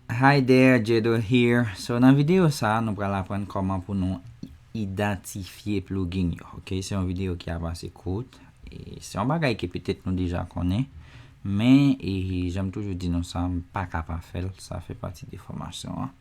Hi there, Jedo here. So nan videyo sa nou pral aprann kòman pou nou idantifye plugin yo. Ok, se yon videyo ki ap ase kout. E se yon bagay ke petèt nou deja konnen. Men, e janm toujou di nou sa, m pa ka pa fè l, sa fè pati de fòmasyon an.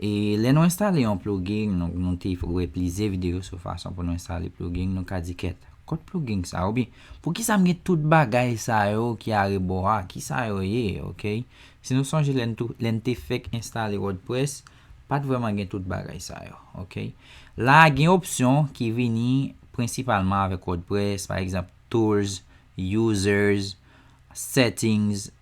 E lè nou enstale yon pluging, nou te wè plizyè videyo sou fason pou nou enstale pluging, nou ka di kèt, kot pluging sa oubyen poukisa m gen tout bagay sa yo ki arebò a, kisa yo ye, ok? Si nou sonje lè n lè n te fèk enstale wordpress, pa t vrèman gen tout bagay sa yo, ok? La a gen opsyon ki vini prensipalman avèk wordpress, pa egzanp, tools, users, settings,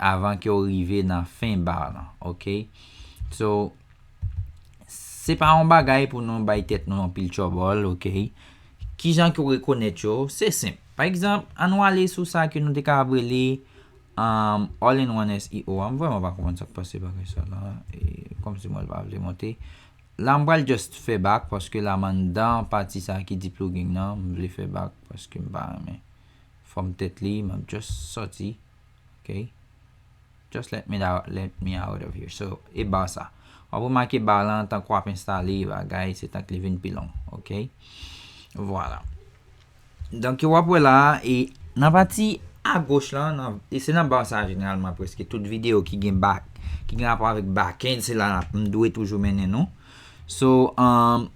avan ke w rive nan fen bar lan ok so se pa yon bagay pou nou bay tèt nou anpil tchòbòl ok kijan ke w rekonèt yo se senp pa egzanp an nou ale sou sa ke nou te kapab rele all in one SEO a m vrèman pa konprann sa k pase bagay sa la kòmsi mwen pa vle monte la m pral just fè bak paske la m anndan pati sa ki di plugin nan m vle fè bak paske m pa renmen Fòm tèt li map just sòti ok just let me out let me out of here so e bar sa wap remake bar lan tank wap enstale bagay se tank li vin pi long ok vwala donk yo wap wè la e nan pati agoch lan nan e se nan bar sa jeneralman preske tout video ki gen back ki gen rapò avèk backend se la nap m dwe toujou mennen nou so umm.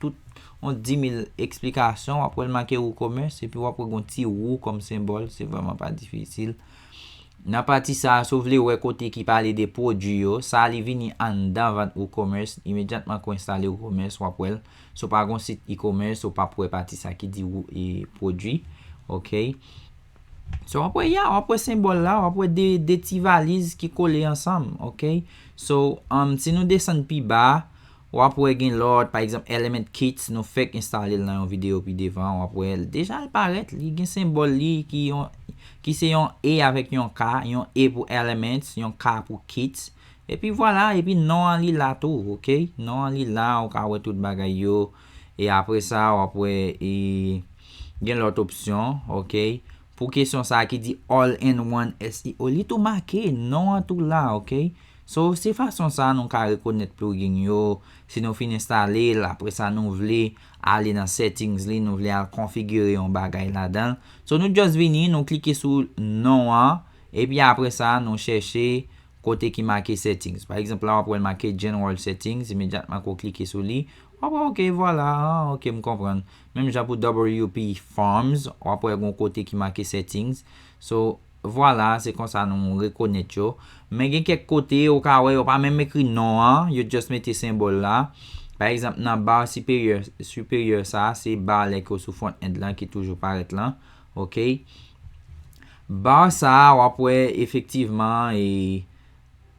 tout yon dimil eksplikasyon wap wèl make WooCommerce epi wap wè gon ti wou kòm senbòl se vrèman pa difisil nan pati sa si w vle wè kote ki pale de pwodwi yo sa li vini anndan vant WooCommerce imedyatman ke w enstale WooCommerce wap wèl si w pa gon sit ecommerce ou pap wè pati sa ki di pwodwi ok so wap wè ya wap wè senbòl la wap wè de ti valiz ki kole ansanm ok so si nou desann pi ba. Wap wè gen lòt, pa egzanp Element Kits nou fèk enstale l nan yon videyo pi devan, wap wè l deja l parèt, li gen senbòl li ki yon ki se yon E avèk yon K, yon E pou Elements, yon K pou Kits, epi vwala, epi non an li la tou ok, non an li la ou ka wè tout bagay yo, e apre sa wap wè e gen lòt opsyon ok, pou kesyon sa ki di All in one SEO li tou make, non an tou la ok. So, se fason sa a nou ka rekonèt plugin yo, si nou fin enstale l, apre sa nou vle ale nan settings li, nou vle al konfigire yon bagay ladan l. So, nou just vini, nou klike sou non an, epi apre sa nou chèche kote ki make settings. Pa egzanp la w ap wè l make general settings, imedyatman ke w klike sou li, w ap wè ok, vwala, ah ok m konprann. Menm jan pou WP Forms, w ap wè gen yon kote ki make settings. So. Vwala, se konsa nou rekonèt yo. Men gen kèk kote ou ka wè yo pa menm ekri non an, yo just mete senbòl la. Pa egzanp nan bar siperyè, supérieur, sa a se bar lè ke w sou front end lan ki toujou parèt lan. Ok. Bar sa a w ap wè efektivman e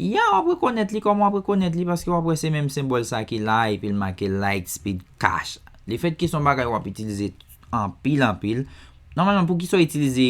ya w ap rekonèt li kòman w ap rekonèt li paske w ap wè se menm senbòl sa ki la epi l make Lightspeed Cash. Lefètke se yon bagay w ap itilize anpil anpil, nòmalman poukisa w itilize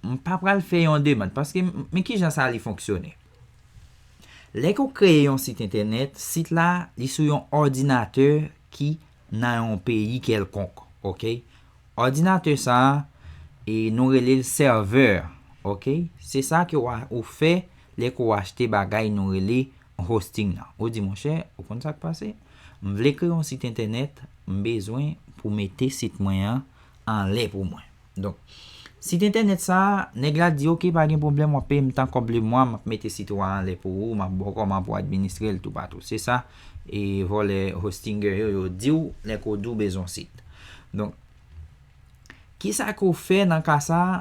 M pa pral fè yon demand paske men kijan sa li fonksyone. Lè ke w kreye yon sit entènèt, sit la li sou yon òdinatè ki nan yon peyi kèlkonk ok. Òdinatè sa e nou rele l sèvè ok. Se sa ke ou fè lè ke w achte bagay nou rele hosting nan. Ou di monchè ou konn sa k pase, m vle kreye yon sit entènèt, m bezwen pou mete sit mwen an anlè pou mwen. Donk Sit entènèt sa a, nèg la di ok pa gen pwoblèm wap peye m tan kòb le mwa map mete sit ou a anlè pou ou map ba w kòman pou w administre l toupatou se sa e vòlè hostinger yo yo di w lè ko di w bezwen yon sit donk kisa ke w fè nan ka sa a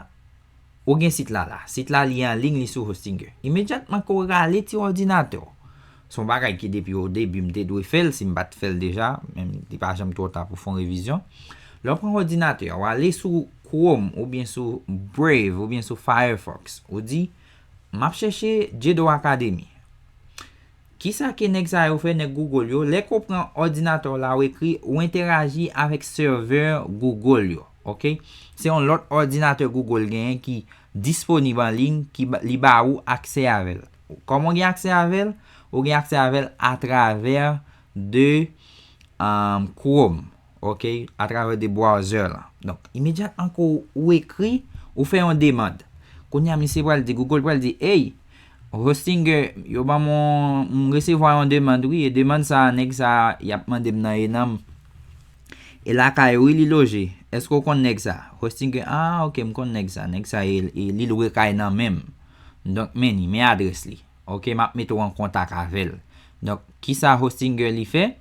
ou gen sit la la sit la li anlign li sou hostinger imedyatman ke w rale ti òdinatè w Son bagay ki depi o debi m te dwe fè l si m pat fè l deja, men li pa janm twò ta pou fon revizyon. Lè w pran òdinatè a, w ale sou Chrome oubyen sou Brave oubyen sou Firefox, ou di, m ap chèche Jedo Academy. Kisa ke nèg sa yo fè, nèg Google yo, lè ke w pran òdinatè w la ou ekri, ou entèraji avèk sèvè Google yo, ok. Se yon lòt òdinatè Google genyen ki disponib an liy ki li ba ou aksè avè l. Kòman w gen aksè avè l? Ou gen aksè avè l atravè de Chrome ok, atravè de browser lan. Donk, imedyatman ke ou ekri, ou fè yon demand. Kounye a misye pral di, Google pral di, Ey, Hostinger, yo ban m yon, m resevwa yon demand wi, e demand sa a, nèg sa a, y ap mande m nan Enam, e lakay ou wi li loje. Èske ou konn nèg sa a? Hostinger, Ah, ok, m konn nèg sa a. Nèg sa a, li lwe kay nan men m. Donk men li, men adrès li. Ok map mete w an kontak avè l. Donk kisa Hostinger li fè?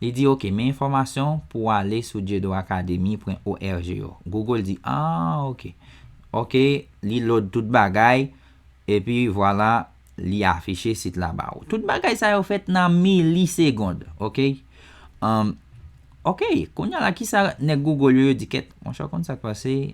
Li di ok men enfòmasyon pou w ale sou dieudonacademy.org yo. Google di aah ok. Ok li load tout bagay epi vwala li afiche sit la ba ou. Tout bagay sa yo fèt nan milisegond. Ok Umm ok kounya la kisa nèg Google yo yo di kèt monchè w konn sak pase?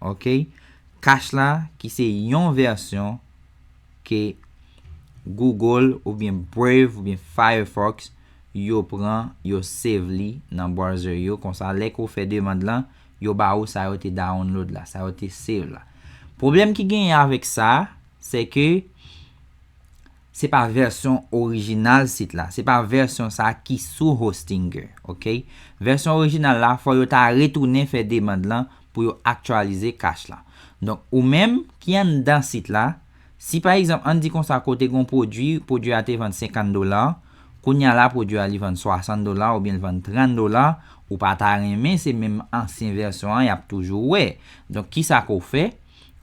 Ok cash la ki se yon vèsyon ke Google oubyen Brave oubyen Firefox yo pran yo save li nan browser yo konsa lè ke w fè demand lan yo ba ou sa yo te download la sa yo te save la pwoblèm ki genyen avèk sa sè ke Se pa vèsyon orijinal sit la, se pa vèsyon sa ki sou Hostinger, ok. Vèsyon orijinal la fò yo ta retounen fè demand lan pou yo aktyalize cache la. Donk ou menm ki anndan sit la, si pa egzanp ann di konsa ke w te gen yon pwodwi, pwodwi a te vann 50 dola, kounye a la pwodwi a li vann 60 dola oubyen li vann 30 dola, ou pa ta renmen se menm ansyen vèsyon an y ap toujou wè. Donk kisa ke w fè?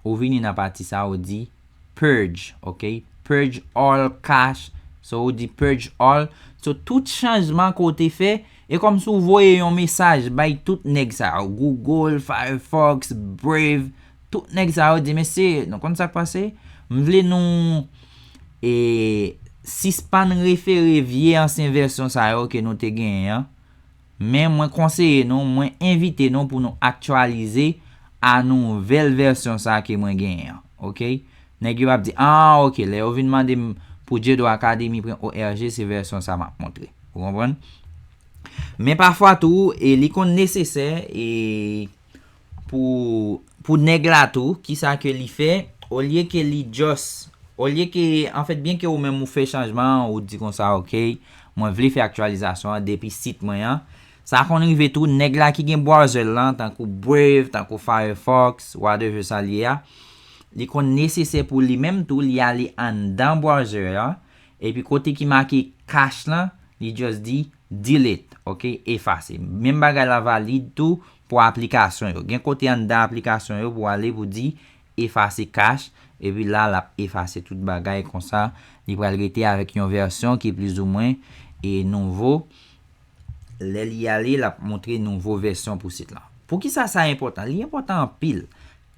Ou vini nan pati sa ou di purge ok purge all cash so ou di purge all so tout chanjman ke w te fè e kòmsi ou voye yon mesaj bay tout nèg sa yo google firefox brave tout nèg sa yo di mesye nou konn sak pase m vle nou e sispann refere vye ansyen vèsyon sa yo ke nou te genyen an. Men mwen konseye nou, mwen envite nou pou nou aktyalize a nouvèl vèsyon sa ke mwen genyen an. Ok. Nèg yo ap di, ah ok, lè yo vin mande m pou Dyedo Academy pran ORG, se vèsyon sa m ap montre. Ou konprann? Men pafwa tou, e li konn nesesè, e. Pou pou nèg la tou kisa ke li fè olye ke li just olye ke an fèt byen ke ou menm ou fè chanjman an ou di konsa ok mwen vle fè aktyalizasyon an depi sit mwen an sa konn rive tou nèg la ki gen browser l lan tankou brave tankou firefox whatever sa l ye a li konn nesesè pou li menm tou li ale anndan browser an epi kote ki make cache lan li just di delete ok efase menm bagay la valid tou Pou aplikasyon yo. Gen kote anndan aplikasyon yo pou ale pou di efase cache epi la lap efase tout bagay konsa li pral rete avèk yon vèsyon ki plizoumwen e nouvo lè li ale lap moutre nouvo vèsyon pou sit lan. Poukisa sa enpòtan? Li enpòtan anpil.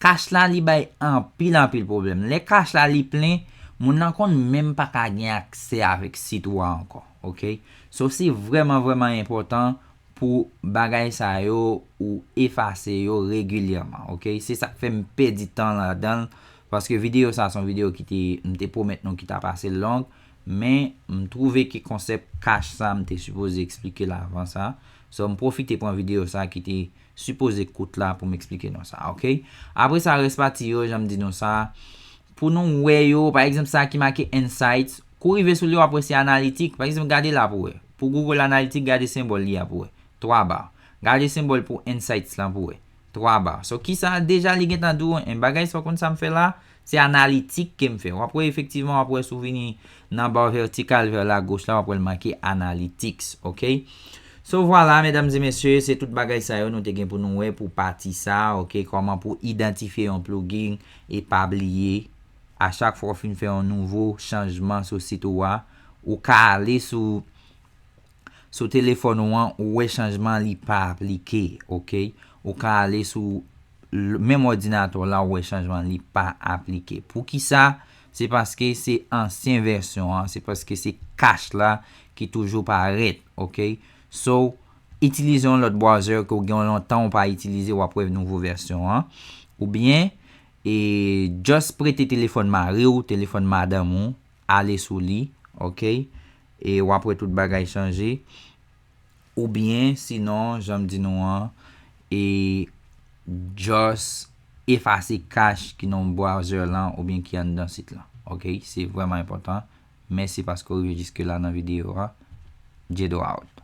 Cache la li bay anpil anpil pwoblèm. Lè cache la li plen, moun lan konn menm pa ka gen aksè avèk sit ou a ankò. Ok. So se vrèman vrèman enpòtan Pou bagay sa yo ou efase yo regilyèman ok se sak fèm pèdi tan ladanl paske video sa son video ki te m te pwomèt nou ki tap ase long men m twouve ke konsèp cash sa m te sipoze eksplike l avan sa so m pwofite pran video sa ki te sipoze kout la pou m eksplike nou sa ok apre sa rès pati yo jan m di nou sa pou nou wè yo pa egzanp sa ki make insights Kou rive sou li wap wè se analitik, pa egzanp gade la pou wè. Pou Google Analytics gade senbòl li a pou wè. 3 ba. Gade senbòl pou Insights lan pou wè. 3 ba. So kisa deja li gentan di w an en bagay sa w konn sa m fè la a? Se analitik ke m fè. Wap wè efektivman wap wè si w vini nan bar vertical vers la gauche la wap wè l make Analytics ok. So vwala medam e mesye se tout bagay sa yo nou te gen pou nou wè pou pati sa a ok kòman pou idantifye yon plugin e pa bliye a chak fwa ou fin fè yon nouvo chanjman sou sit ou a, ou ka ale sou sou telefòn ou an ou wè chanjman li pa aplike ok, ou ka ale sou menm òdinatè w la ou wè chanjman li pa aplike poukisa se paske se ansyen vèsyon an se paske se cache la ki toujou parèt ok so itilize yon lòt browser ke w gen yon lontan ou pa itilize wap wè nouvo vèsyon an oubyen E just prete telefòn mari w, telefòn madanm ou, ale sou li, ok, e w ap wè tout bagay chanje. Oubyen sinon, jan m di nou an, e just efase kach ki nan browser lan oubyen ki anndan sit lan. Ok, se vrèman enpòtan. Mèsi paske w rive jiske la nan videyo a. Jedo out.